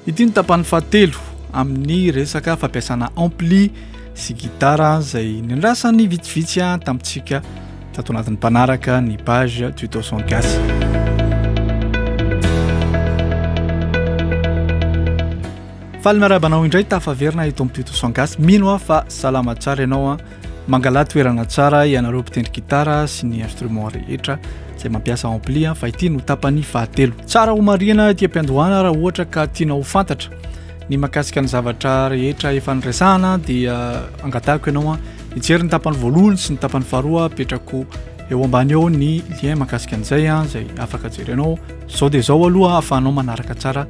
Ity ny tapany fahatelo amin'ny resaka fampiasana ampli sy gitara izay niandrasany vitsivitsy an tamintsika tato anatin'ny mpanaraka ny page tuto son gasy. Faly miarahaba anao indray tafaverina eto amin'ny Tuto Sans Gasy. Mino aho fa salama tsara ianao. Mangala toerana tsara ianareo mpitendry gitara sy ny instrument rehetra izay mampiasa ampli fa ity no tapany fahatelo. Tsara ho marihina ety am-piandohana raha ohatra ka tianao ho fantatra ny makasika ny zavatra rehetra efa niresahana dia angatahiko ianao hijery ny tapany voalohany sy ny tapany faharoa petrako eo ambany eo ny lien makasika an'izay an izay afaka jerenao zao dia zao aloha hahafahanao manaraka tsara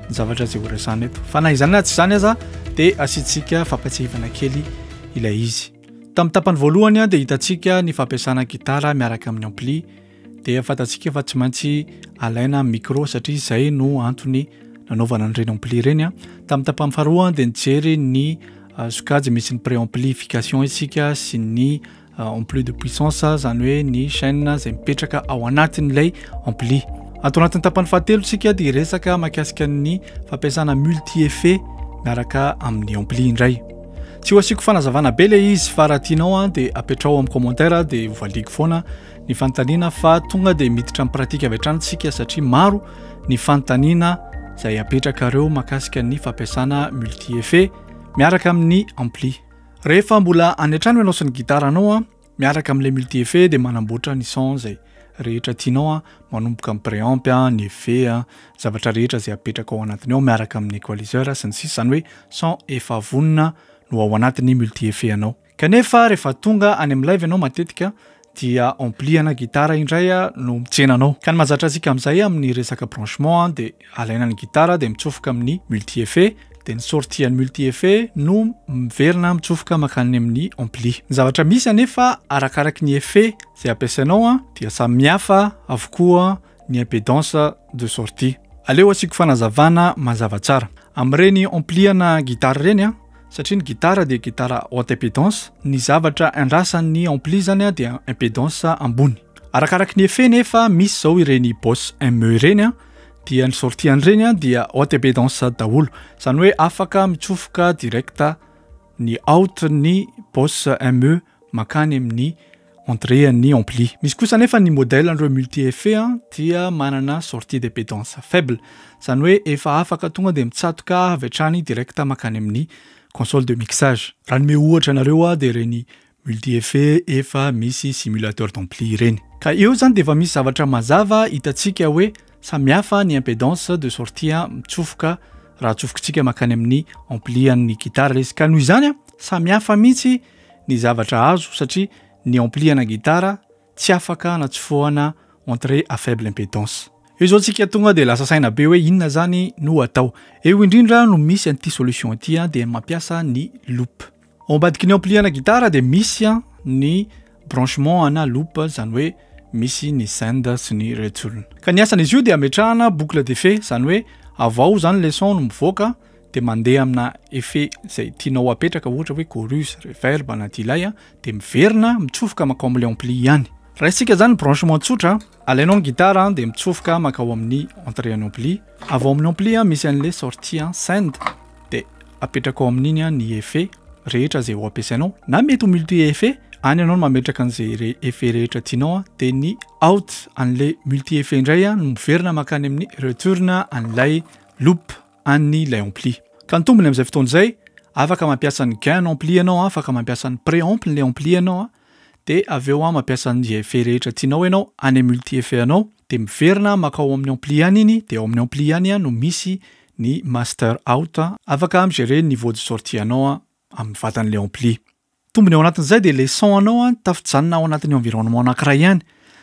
ny zavatra izay horesahana eto fa na izany na tsy izany aza dia asiantsika fampatsihivana kely ilay izy. Tamin'ny tapany voalohany dia hitantsika ny fampiasana gitara miaraka amin'ny ampli dia fantatsika fa tsy maintsy alaina micro satria izay no antony nanaovana an'ireny ampli ireny a tamin'ny tapany faharoa dia nijery ny euh, sokajy misy ny préamplification isika sy ny euh, ampli de puissance izany hoe ny chaîne izay mipetraka ao anatin'ilay ampli ato anatin'ny tapany fahatelo isika dia resaka makasika ny fampiasana multi effet miaraka amin'ny ampli indray Tsy ho asiako fanazavana be ilay izy fa raha tianao an dia apetraho amin'ny commentaire dia hovaliako foana ny fanontaniana fa tonga dia miditra amin'ny pratika avy hatrany tsika satria maro ny fanontaniana izay apetrakareo makasika ny fampiasana multi effet miaraka amin'ny ampli. Rehefa mbola any an-trano ianao sy ny gitaranao an Miaraka amin'ilay multi effet dia manamboatra ny sons izay rehetra tianao a, manomboka amin'ny preamp a, ny effet a, zavatra rehetra izay apetraka ao anatiny ao miaraka amin'ny equaliseur sy ny sisa, izany hoe son efa vonona no ao anatin'ny multi effet anao. Kanefa rehefa tonga any amin'ny live ianao matetika dia ampli ana gitara indray no mitsenanao. Ka ny mahazatra antsika amin'izay amin'ny resaka branchement dia Alaina ny gitara dia mitsofoka amin'ny multi-effet, dia ny sortie an'ny multi-effet no miverina mitsofoka mankany amin'ny ampli. Ny zavatra misy anefa arakaraky ny effet izay ampiasainao dia samy hafa avokoa ny impedance de sortie. Aleo asiako fanazavana mazava tsara. Amin'ireny ampli-ana gitara ireny, satria ny gitara dia gitara haute impedance, ny zavatra andrasan'ny ampli izany dia impedance ambony. Arakaraky ny effet nefa misy izao ireny Boss ME ireny dia ny sortie an'ireny a dia haute et baie danse daholo izany hoe afaka mitsofoka direct ny haute ny bosse ME mankany amin'ny entrée an'ny ampli misy kosa nefa ny modèle an'ireo multi effet a dia manana sortie de baie danse faible izany hoe efa afaka tonga dia mitsatoka avy hatrany direct mankany amin'ny console de mixage raha ny me ohatra anareo a dia ireny Multi-effet efa misy simulateur d'ampli ireny. Ka eo zany dia efa misy zavatra mazava hitantsika hoe samihafa ny impedance de sortie mitsofoka raha atsofokintsika makany amin'ny ampli an'ny gitara ilay izy. Ka noho izany samihafa mihitsy ny zavatra azo satria ny ampli ana gitara tsy afaka hanatsofohana entrée à faible impedance. Eo izao tsika tonga dia lasa saina be hoe inona zany no atao. Eo indrindra no misy an'ity solution ity an, dia mampiasa ny loop. Ao ambadiky ny ampli ana gitara dia misy an ny branchement ana loop zany hoe misy ny send sy ny retsolona. Ka ny asan'izy io dia ametrahana boucle d'effet zany hoe avy ao zany le son no mivoaka dia mandeha amina effet zay tianao apetraka ohatra hoe chorus, reverb anaty ilay an dia miverina mitsofoka mankao amin'ny ampli ihany. Raisintsika izany ny branchement tsotra, alainao ny gitara dia mitsofoka mankao amin'ny entrée an'ny ampli, avy ao amin'ny ampli misy an'ilay sortie send dia apetrakao amin'iny ny effet rehetra izay ho ampiasainao, na mety ho multi effet, any ianao no mametraka an'izay effet rehetra tianao, dia ny out an'ilay multi effet indray no miverina mankany amin'ny return an'ilay loop. an'ny lay ampli. Ka ny tombony amin'izay fotoana izay, afaka mampiasa ny gain ampli ianao, afaka mampiasa ny pré ampli ny ampli ianao an, dia avy eo mampiasa ny effet rehetra tianao ianao, any amin'ny multi effet anao, dia miverina makao amin'ny ampli any iny, dia ao amin'ny ampli any no misy ny master out, afaka mi-gerer ny niveau de sortie anao amin'ny vatan'ilay ampli. Tombony ao anatin'izay dia leçon anao an tafijanona ao anatin'ny environnement anankiray ihany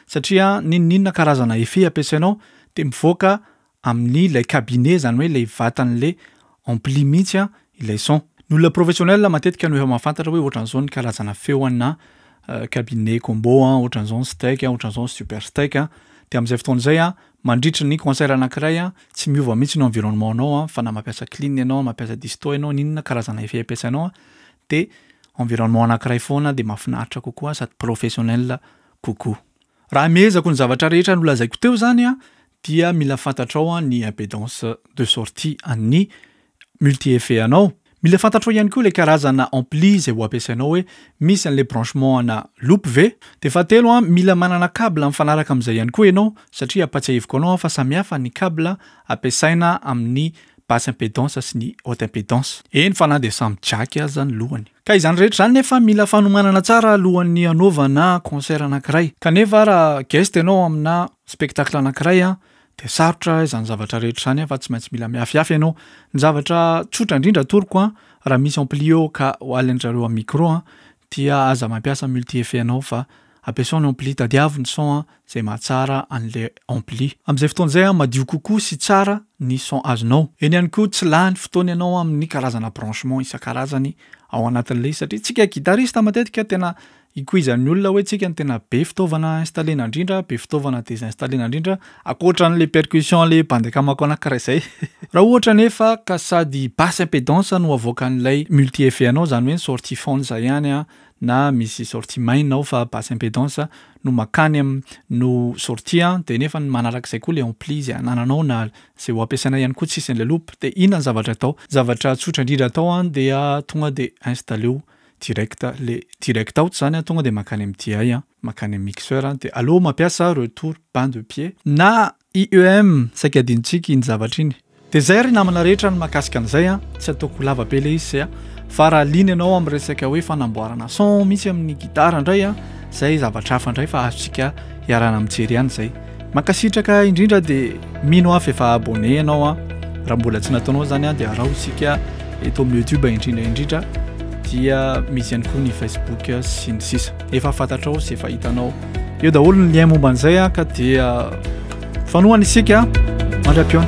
satria n'inon'inona karazana effet ampiasainao dia mivoaka amin'ny lay cabinet izany hoe ilay vatan'ilay ampli mihitsy an ilay son. Ny olona professionnel matetika no efa mahafantatra hoe ohatran'izao ny karazana feo anà cabinet combo an, ohatran'izao ny steak an, ohatran'izao ny super steak an. Dia amin'izay fotoana izay an mandritry ny concert anankiray an tsy miova mihitsy ny environnement anao an fa na mampiasa clean ianao na mampiasa disto ianao n'inona karazana effet ampiasainao an de environnement anakiray foana de mahafinaritra kokoa sady professionnel kokoa. Raha mihezako ny zavatra rehetra nolazaiko teo zany an dia mila fantatrao an ny impedance de sortie an'ny multi effet anao, mila fantatrao ihany koa le karazana ampli zay ho ampiasainao hoe misy anle branchement ana loop ve? De fahatelo an mila manana cable mifanaraka amzay ihany koa ianao satria ampatsiahiviko anao an fa samihafa ny cable ampiasaina amin'ny basse impedance sy ny haute impedance. Eny fa na dia samy jack aza ny lohany. Ka izany rehetra izany nefa mila fanomanana tsara alohan'ny hanaovana concert anankiray. Kanefa raha guest ianao amina spectacle anankiray dia sarotra izany zavatra rehetra izany fa tsy maintsy mila mihafihafy ianao. Ny zavatra tsotra indrindra atoroko raha misy ampli eo ka ho alindrareo amin'ny micro dia aza mampiasa multi effet anao fa Ampiasao ny ampli, tadiavo ny son an zay mahatsara anle ampli. Amin'izay fotoana izay an madio kokoa sy tsara ny son azonao. Eny ihany koa tsy lany fotoana ianao amin'ny karazana branchement isan-karazany ao anatin'le satria tsika guitariste matetika tena ikoizan'ny olona hoe tsika no tena be fitaovana installena indrindra, be fitaovana desinstallena indrindra ankoatra an'le percussion le bandy akamako anankiray izay. Raha ohatra anefa ka sady basse impedance no avoakan'ilay multi effet anao izany hoe ny sortie foana izay ihany an na misy sortie main ao fa basse impedance no makany am no sortie an de nefa ny manarak'izay koa le ampli zay anananao na zay ho ampiasaina ihany koa tsisy an'ilay loop de inona ny zavatra atao zavatra tsotra indrindra atao an dia tonga de installeo direct le direct out zany an tonga de makany am DI an makany am mixeur an de aleo mampiasa retour bain de pied na IEM, saika adinontsika iny zavatra iny. Dia izay ry namana rehetra ny mahakasika an'izay an, tsy ataoko ho lava be ilay izy sea, fa raha liana ianao amin'ny resaka hoe fanamboarana son mihitsy amin'ny gitara indray an, izay zavatra hafa indray fa azontsika iarahana mijery ihany izay. Mankasitraka indrindra dia mino aho fa efa abonné ianao an, raha mbola tsy nataonao izany an dia araho isika eto amin'ny youtube indrindra indrindra dia misy ihany koa ny facebook sy ny sisa. efa fantatrao sy efa hitanao eo daholo ny lien momba an'izay a ka dia fanohana isika mandra-piona